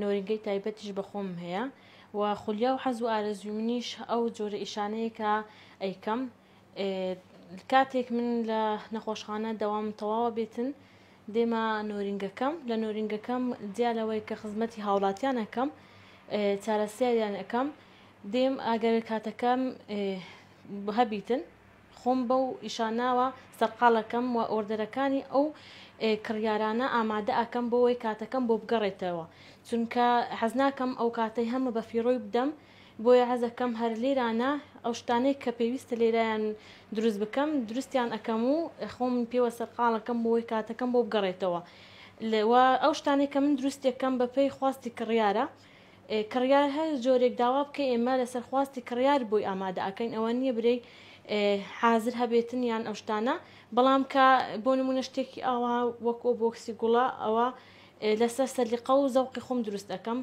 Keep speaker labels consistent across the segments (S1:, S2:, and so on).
S1: نۆرینگەی تایبەتیش بە خۆمم هەیە و خولیا و حەز و ئارەزووی منیش ئەو جۆرە ئیشانەیە کە ئەیکەم کاتێک من لە نەخۆشخانە دەوام تەواوە بێتن دێمە نۆرینگەکەم لە نۆرینگەکەم جیا لەوەی کە خزمەتی هاوڵاتیان ئەەکەم چارەسیاریان ئەەکەم دێم ئەگەر کاتەکەم هەبیتن خۆم بەو ئیشاناوە سەرقاڵەکەم و ئۆردەرەکانی ئەو کڕیارانە ئامادە ئەکەم بۆوەی کاتەکەم بۆ بگەڕێتەوە چونکە حەزناکەم ئەوکاتەی هەمە بە فیڕۆی بدەم بۆیە حەزەکەم هەر لێرانە ئەو شتانەی کە پێویستە لێرایان دروست بکەم دروستیان ئەکەم و خۆم پێوە سەرقاڵەکەم بۆوەی کاتەکەم بۆ بگەڕێتەوە وە ئەو شتانەی کە من دروستیەکەم بە پێی خواستی کڕیارە کڕیار هەر جۆرێک داوا بکەی ئێمە لەسەر خواستی کڕیار بۆی ئامادە ئەکەین ئەوە نییە برێی حازر هەبێتن یان ئەو شتانە بەڵام کە بۆ نمونە شتێکی ئاوا وەک ئەو بۆکسی گوڵە ئەوە لەسەر سەلیقە و زەوقی خۆم دروست دەکەم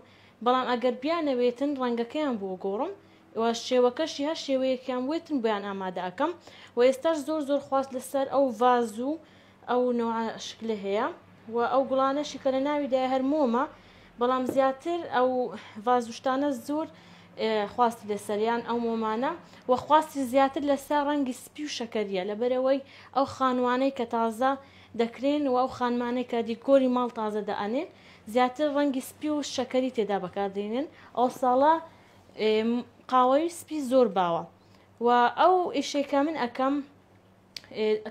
S1: بەڵام ئەگەر بیانەوێتن ڕەنگەکەیان بۆ گۆڕم وە شێوەکەشی هەر شێوەیەکیان وێتن بۆیان ئامادە ئەکەم و ئێستاش زۆر زۆر خواست لەسەر ئەو ڤاز و ئەو نەوعە شکلە هەیە و ئەو گوڵانەشی کە لە ناویدایە هەر مۆمە بەڵام زیاتر ئەو ڤاز و شتانە زۆر خواستی لەسەریان ئەو مۆمانە و خواستی زیاتر لەسەر ڕەنگی سپی و شەکەریە لەبەرەوەی ئەو خانوانەی کە تازە دەکرێن و ئەو خانمانەی کە دیکۆری ماڵ تازە دەئەنێن زیاتر ڕەنگی سپی و شەکەری تێدا بەکاردێنن ئەو ساڵە قاوەیی سپی زۆر باوە و ئەو ئیشەی کە من ئەکەم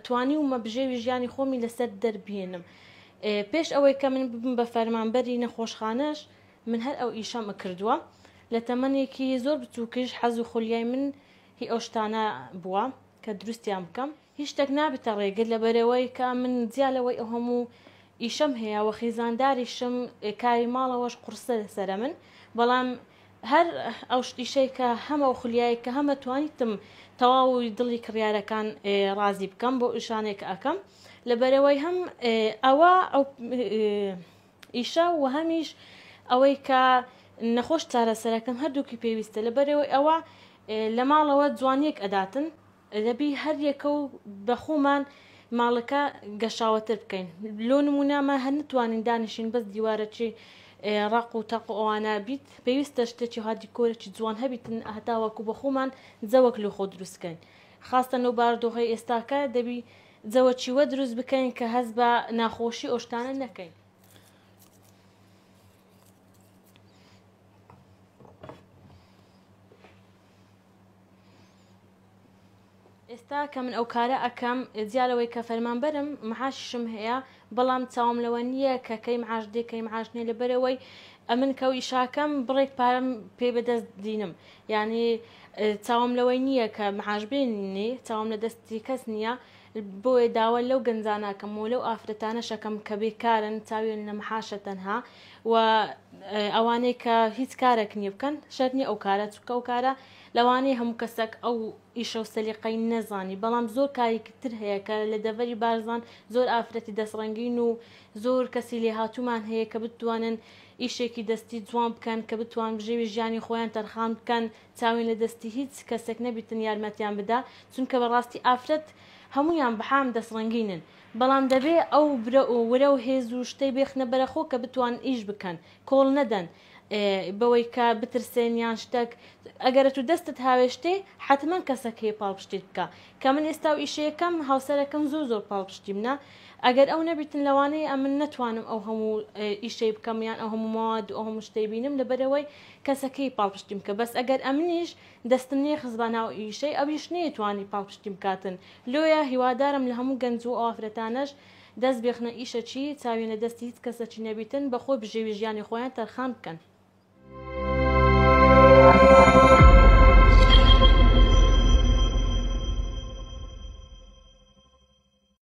S1: توانیومە بژێوی ژیانی خۆمی لەسەر دەربهێنم پێش ئەوەی کە من ببم بە فەرمانبەری نەخۆشخانەش من هەر ئەو ئیشەم کردووە لە تەمەنێکی زۆر بچووکیش حەز و خولیای من هی ئەو شتانە بووە کە دروستیان بکەم هیچ شتێک نابێتە ڕێگر لەبەرەوەی کە من جیا لەوەی ئەو هەموو ئیشەم هەیە وە خیزانداریشم کاری ماڵەوەش قورسە لەسرە من بەڵام هەر ئەو شتیشەی کە هەم ئەو خولیایەی کە هەمە توانیتم تەواو دڵی کڕیارەکان ڕازی بکەم بۆ ئیشانێک کە ئەکەم لەبەرەوەی هەم ئەوە ئەو ئیشە و هەمیش ئەوەی کە نەخۆش چارەسەرەکەم هەردووکی پێویستە لەبەرەوەی ئەوە لە ماڵەوە جوانیەک ئەداتن دەبی هەر یەکە و بە خۆمان ماڵەکە گەشاوەتر بکەین لۆ نمونە ما هەر نتوانین دانیشین بەس دیوارەکی ڕاق و تاق و ئەوانە بیت پێویستە شتێکی ها دیکۆرێکی جوان هەبیتن هەتا وەکو بە خۆمان جەوەک لۆ خۆ دروستکەین خاستە نەو باردۆخەی ئێستاکە دەبی جەوەکی وە دروست بکەین کە هەست بە ناخۆشی ئۆشتانە نەکەین ئێستا کە من ئەو کارە ئەکەم جیا لەوەی کە فەرمانبەرم معاششم هەیە بەڵام چاوم لەوە نییە کە کەی معاش دێ کەی معاش نیە لەبەرەوەی ئەمن کەو ئیشاکەم بڕێک پارەم پێ بەدەست دینم یعنی چاوم لەوەی نییە کە معاش بێنی چاوم لە دەستی کەس نییە بۆیە داوا لەو گەنجانە ئەکەم و لەو ئافرەتانەش ئەکەم کە بێکارن چاویان لە معاشە تەنها و ئەوانەی کە هیچ کارێک نییە بکەن شەرت نییە ئەو کارە چونکە ئەو کارە لەوانەیە هەموو کەسێک ئەو ئیشە و سەلیقەی نەزانی بەڵام زۆر کارێکی تر هەیە کە لە دەڤەری بارزان زۆر ئافرەتی دەستڕەنگین و زۆر کەسی لێهاتوومان هەیە کە بتوانن ئیشێکی دەستی جوان بکەن کە بتوان بژێوی ژیانی خۆیان تەرخان بکەن چاوین لە دەستی هیچ کەسێک نەبیتن یارمەتیان بدا چونکە بەڕاستی ئافرەت هەموویان بەحام دەست ڕەنگینن بەڵام دەبێ ئەو برە و ورە و هێز و شتەی بێخنە بەرە خۆ کە بتوان ئیش بکەن کۆڵ نەدەن بەوەی کە بترسێن یان شتەک ئەگەرە تو دەستت هاوێشتێ حەتمەن کەسەک هەیە پاڵپشتیت بکا کە من ئێستا و ئیشەیەکەم هاوسەرەکەم زۆر زۆر پاڵپشتیم نا ئەگەر ئەو نەبیتن لەوانەیە ئەمن نەتوانم ئەو هەموو ئیشەی بکەم یان ئەو هەموو مەواد و ئەو هەموو شتەی بینم لەبەرەوەی کەسەکەی پاڵپشتیم بکە بەس ئەگەر ئەمنیش دەستم نەی خستبا ناو ئیشەی ئەویش نەی توانی پاڵپشتیم بکاتن لۆیە هیوادارم لە هەموو گەنج و ئافرەتانەش دەست بێخنە ئیشەکی چاویان لە دەستی هیچ کەسەکی نەبیتن بە خۆ بژێوی ژیانی خۆیان تەرخان بکەن.